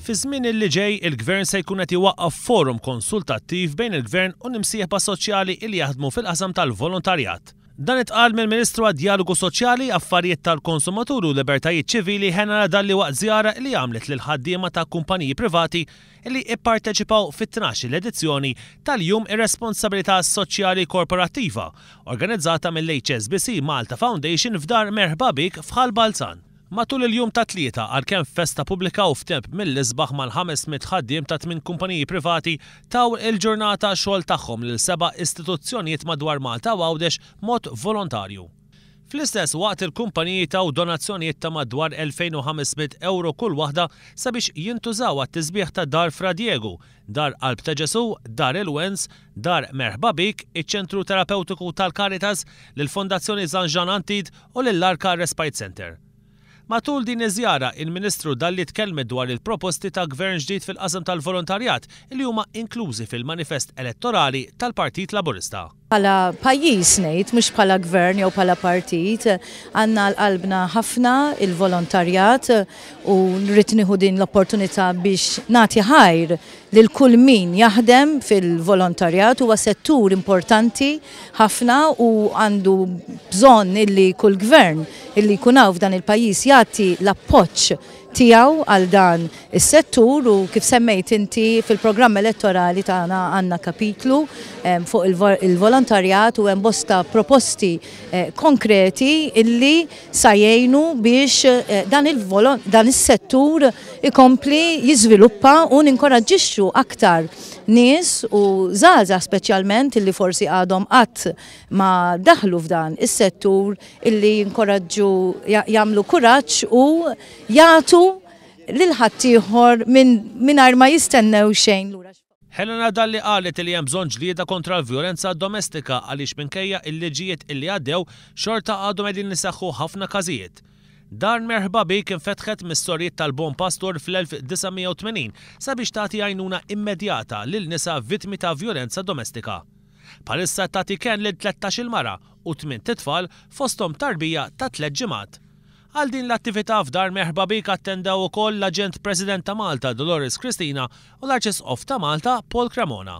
Fiż-żmien li ġej, il-Gvern se jkun qed iwaqqaf forum konsultattiv bejn il-Gvern u l-imsieħba soċjali li jaħdmu fil-qasam tal-volontarjat. Dan intqal mill-Ministru għad-Djalogu Soċjali, Affarijiet tal-Konsumaturi u Libertajiet Ċivili Hena Radalli waqt żjara li għamlet lill-ħaddiema ta' kumpaniji privati li ipparteċipaw fit-tnax-il edizzjoni tal-Jum ir-Responsabilità Soċjali Korporattiva, organizzata mill-HSBC Malta Foundation f'Dar Merħba Bik f'Ħal Balzan. Matul il-jum tat-Tlieta, għalkemm f'festa pubblika u f'temp mill-isbaħ mal-ħames mitt ħaddiem ta' tmien kumpaniji privati taw il-ġurnata xogħol tagħhom lil seba' istituzzjonijiet madwar Malta u Għawdex b'mod volontarju. Fl-istess waqt il-kumpaniji taw donazzjonijiet ta' madwar 2,500 ewro kull waħda sabiex jintużaw għat-tisbiħ ta' Dar Fra Diegu, Dar Qalb ta' Ġesù, Dar il-Wens, Dar Merħba Bik, iċ-Ċentru Terapewtiku tal-Caritas, lill-Fondazzjoni Zanjan Antid u lill-Arka Respite Centre. Matul din iż-żjara, il-Ministru Dalli tkellmet dwar il-proposti ta' Gvern ġdid fil-qasam tal-volontarjat li huma inklużi fil-manifest elettorali tal-Partit Laburista. Bħala pajjiż ngħid, mhux bħala Gvern jew bħala Partit, għandna għal qalbna ħafna l-volontarjat u rrid nieħu din l-opportunità biex nagħti ħajr lil kull min jaħdem fil-volontarjat, huwa settur importanti. ħafna u għandu bżonn illi kull gvern illi jkun hawn f'dan il-pajjiż jagħti l-appoġġ tiegħu għal dan is-settur u kif semmejt inti fil-programm elettorali tagħna għandna kapitlu ehm, fuq il-volontarjat u hemm bosta proposti eh, konkreti illi sa jgħinu biex eh, dan is-settur ikompli jiżviluppa u ninkoraġġixxu aktar nies u żgħażagħ speċjalment illi forsi għadhom qatt ma daħlu f'dan is-settur illi jinkoraġġu jagħmlu kuraġġ u jagħtu lil ħaddieħor minn mingħajr ma jistennew xejn lura. Helena Dalli qalet li hemm bżonn ġlieda kontra l-vjolenza domestika għaliex minkejja l-liġijiet illi għaddew xorta għadhom qegħdin iseħħu ħafna każijiet. Dar Merħba Bik infetħet mis-Sorijiet tal-Bon Pastur fl-1980 sabiex tagħti għajnuna immedjata lil nisa vittmi ta' vjolenza domestika. Bħalissa qed tagħti kenn lil tlettax-il mara u tmint itfal fosthom tarbija ta' tliet ġimgħat. Għal din l-attività f'Dar Merħba Bik attendew ukoll l-Aġent President ta' Malta Dolores Cristina u l-Arċisqof ta' Malta Paul Cremona.